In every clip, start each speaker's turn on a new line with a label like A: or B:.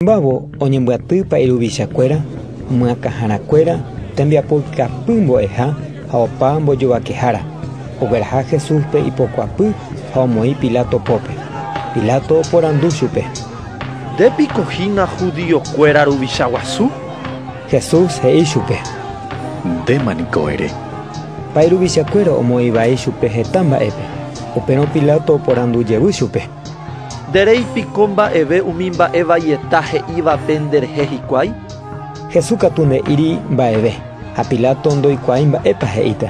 A: Oñemombávo oñembyatýpa iruvichakuéra, myakãharakuéra, tembiapo ikapy mbo'eha ha opa mbojovakehára. Ogueraha Jesúspe ipokuapy ha omoĩ Pilato pópe. Pilato oporandu chupe. Nde piko
B: hína judíokuéra ruvicha guasu? Jesús
A: he'i chupe. Ndéma
C: niko ere. Ha iruvichakuéra
A: omoĩ vai chupe heta mba'épe. Upérõ Pilato oporandu jevy chupe. Nde rei
B: piko mba'eve umi mba'e vaieta he'ívape nde rehe hikuái? Jesús
A: katu nde'íri mba'eve, ha Pilato ndoikuaái mba'épa he'íta.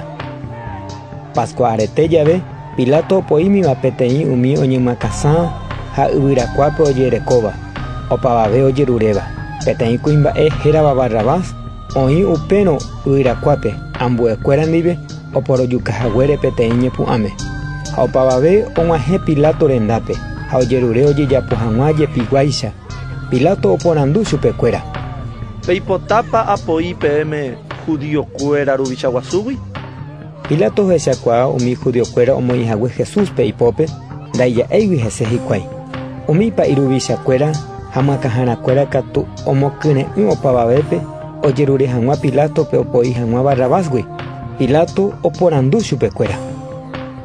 A: Pascua arete jave, Pilato opoímiva peteĩ umi oñymakãsã ha yvyrakuápe ojerekóva, opavave ojeruréva, peteĩ kuimba'e hérava Barrabás, Oĩ upérõ yvyrakuápe ambuekuéra ndive oporojuka haguére peteĩ ñepu'ãme. Ha opavave og̃uahẽ Pilato rendápe ha ojerure ojejapo hag̃ua jepiguáicha. Pilato oporandu chupekuéra. Peipotápa
B: apoi peẽme judío kuéra ruvicha guasúgui? Pilato
A: ohechakuaa umi judiokuéra omoĩ hague Jesúspe ipópe, ndaija'éigui hese hikuái. Umi pa'i ruvichakuéra ha makãharakuéra katu omokyre'ỹ opavavépe ojerure hag̃ua Pilátope opoi hag̃ua Barrabásgui. Pilato oporandu chupekuéra: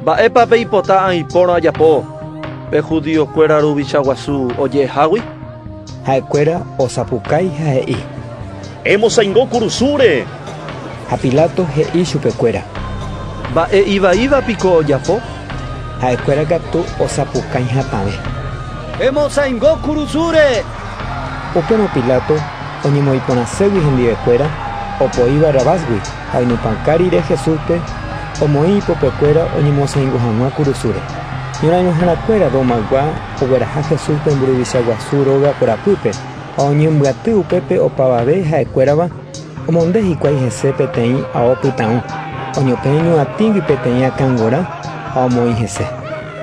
A: “¿Mba'épa
B: peipota aipórõ ajapo pe judiokuéra ruvicha guasu oje'ehágui?” Ha'ekuéra
A: osapukái ha he'i: Emosaingo
C: kurusúre. Ha
A: Pilato he'i chupekuéra. Mba'e
B: ivaíva piko ojapo? Ha'ekuéra
A: katu osapukãi hatãve. Emosaingo
B: kurusúre. Upérõ
A: Pilato oñemoĩporãségui hendivekuéra opoi Barrabásgui ha oinupãka rire Jesúspe omoĩ ipopekuéra oñemosaingo hag̃ua kurusúre. Ñorairõhárakuéra Romaygua ogueraha Jesúspe mburuvicha guasu róga korapýpe. Ha oñembyaty upépe opavave ha'ekuérava, omonde hikuái hese peteĩ ao pytãũ, oñotỹi ñuatĩgui peteĩ akã g̃uarã ha omoĩ hese.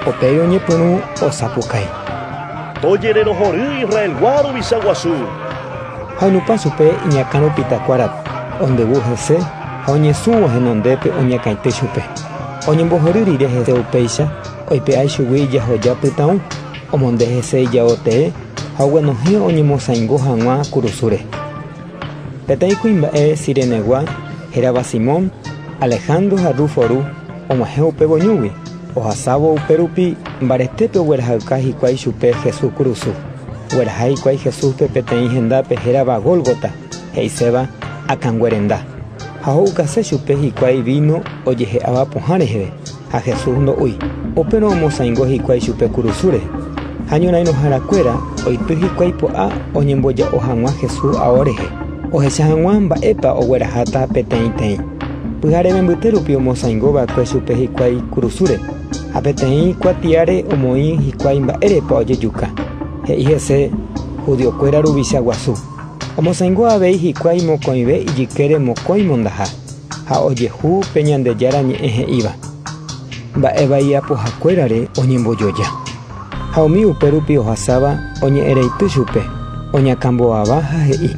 A: Upéi oñepyrũ osapukái.
C: Tojererohory Israelgua ruvicha guasu! Ha
A: onupa chupe iñakã rupitakuára, ondevu hese ha oñesũvo henondépe oñakãity chupe. Oñembohory rire hese upéicha, oipe'a ichugui ijahoja pytãũ, omonde hese ijao tee haguenohẽ oñemosaingo hag̃ua kurusúre. Peteĩ kuimba'e Cirenegua hérava Simón, Alejandro ha Rufo ru, og̃uahẽ upe voñúgui, ohasávo upérupi mbaretépe oguerahayka hikuái chupe Jesús kurusu. Ogueraha hikuái Jesúspe peteĩ hendápe hérava Gólgota, he'iséva Akãnguerenda, ha ho'ukase chupe hikuái víno ojehe'áva pohã reheve. Ha Jesús ndo'úi. Upérõ omosãingo hikuái chupe kurusúre. Ha ñorãirõhára kuéra oity hikuái po'a oñemboja'o hag̃ua Jesús ao rehe, ohecha hag̃ua mba'épa ogueraháta peteĩteĩ. Pyhareve mbyte rupi omosãingo va'ekue chupe hikuái kurusúre, ha peteĩ kuatiáre omoĩ hikuái mba'érepa ojejuka. He'i hese judío kuéra ruvicha guasu, Omosãingo avei hikuái mokõive ijykére mokõi mondaha. ha ojehu pe Ñandejára Ñe'ẽ he'íva, mba'e vai iapohakuérare oñembojoja. Ha umi upérupi ohasáva oñe'ẽreity chupe, oñakãmbovava ha he'i: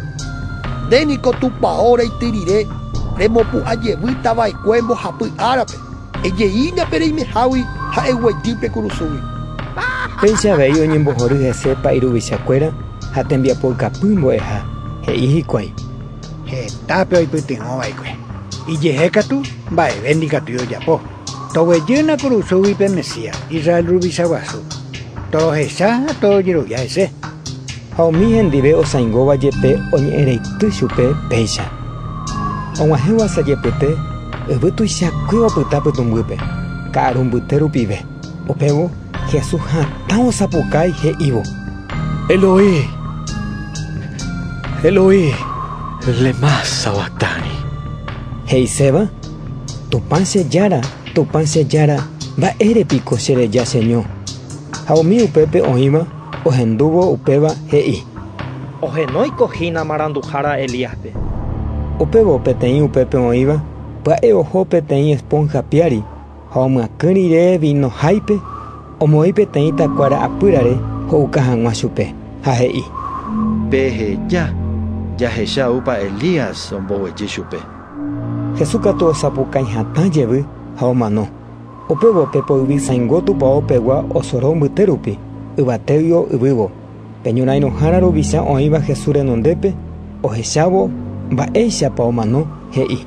A: “Nde niko
D: Tupao reity rire remopu'ã jevy tava'ekue mbohapy árape, ejeína pe reimehágui ha eguejy pe kurusúgui.” Péicha
A: avei oñembohory hese pa'i ruvichakuéra ha tembiapoykapy mbo'eha, he'i hikuái: Hetápe
E: oipytyvõ va'ekue, ijehe katu mba'eve ndikatúi ojapo. Toguejy na kurusúgui pe Mesías, Israel ruvicha guasu. Torohecha ha torojerovia hese. Ha umi
A: hendive osãingóva jepe oñe'ẽreity chupe péicha. Og̃uahẽvo asajepyte yvy tuichakue opyta pytũmbýpe, ka'arumbyte rupive. Upévo Jesús hatã osapukái he'ívo: “Eloí,
C: Eloí, lemá sabactani?”
A: He'iséva: “Tupã che Jára, Tupã che Jára, mba'ére piko chereja cheño?” Ha umi upépe oĩva ohendúvo upéva he'i: “Ohenóiko
B: hína maranduhára Elíaspe.” Upévo
A: peteĩ upépe oĩva pya'e oho peteĩ esponja piári Ha omyakỹ rire víno háipe, omoĩ peteĩ takuára apýrare ho'uka hag̃ua chupe, ha he'i. Peheja,
B: jahecha oúpa Elías omboguejy chupe. Jesús
A: katu osapukãi hatã jevy ha omano. Upévo pe poyvisaingo tupao pegua osoro mbyte rupi, yvatégui o yvývo. Pe ñorãirõhára ruvicha oĩva Jesús renondépe, ohechávo mba'éichapa omano, he'i.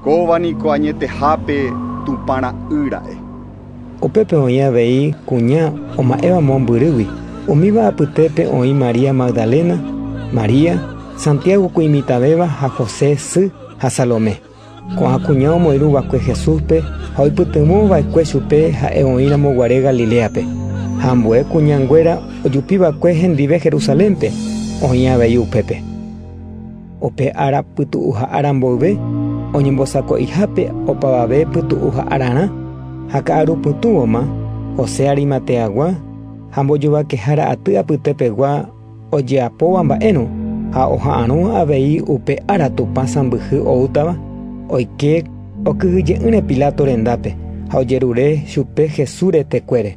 A: Kóva
F: niko añetehápe Tupã ra'y ra'e. Upépe
A: oĩ avei kuña oma'ẽva mombyrýgui. Umíva apytépe oĩ María Magdalena, María, Santiago ku imitãvéva ha José sy ha Salomé. Ko'ã kuña omoirũ va'ekue Jesúspe ha oipytyvõ va'ekue chupe ha'e oĩramo guare Galiléape. Ha ambue kuña nguéra ojupi va'ekue hendive Jerusalénpe, oĩ avei upépe. Upe ára pytu'uha ára mboyve oñembosako'ihápe opavave pytu'uha árarã ha ka'aru pytũvoma, José Arimateagua ha mbojovakehára aty apytepegua ojeapóva mba'érõ ha oha'arõ avei upe ára Tupã sãmbyhy oútava, oike okyhyje'ỹre Pilato rendápe ha ojerure chupe Jesús retekuére.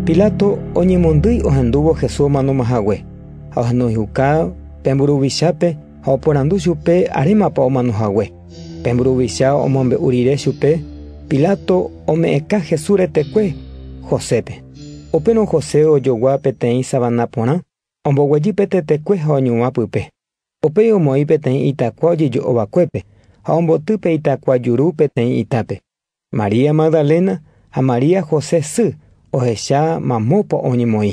A: Pilato oñemondýi ohendúvo Jesús omanomahague. Ha ohenóihuka pe mburuvichápe ha oporandu chupe arémapa omano hague. Pe mburuvicha omombe'u rire chupe, Pilato ome'ẽka Jesús retekue Josépe. Upérõ José ojogua peteĩ savana porã, omboguejy pe tetekue ha oñuã pype. Upéi omoĩ peteĩ itakua ojejo'o vakuépe ha omboty pe itakua juru peteĩ itápe. María Magdalena ha María José sy ohecha mamópa oñemoĩ.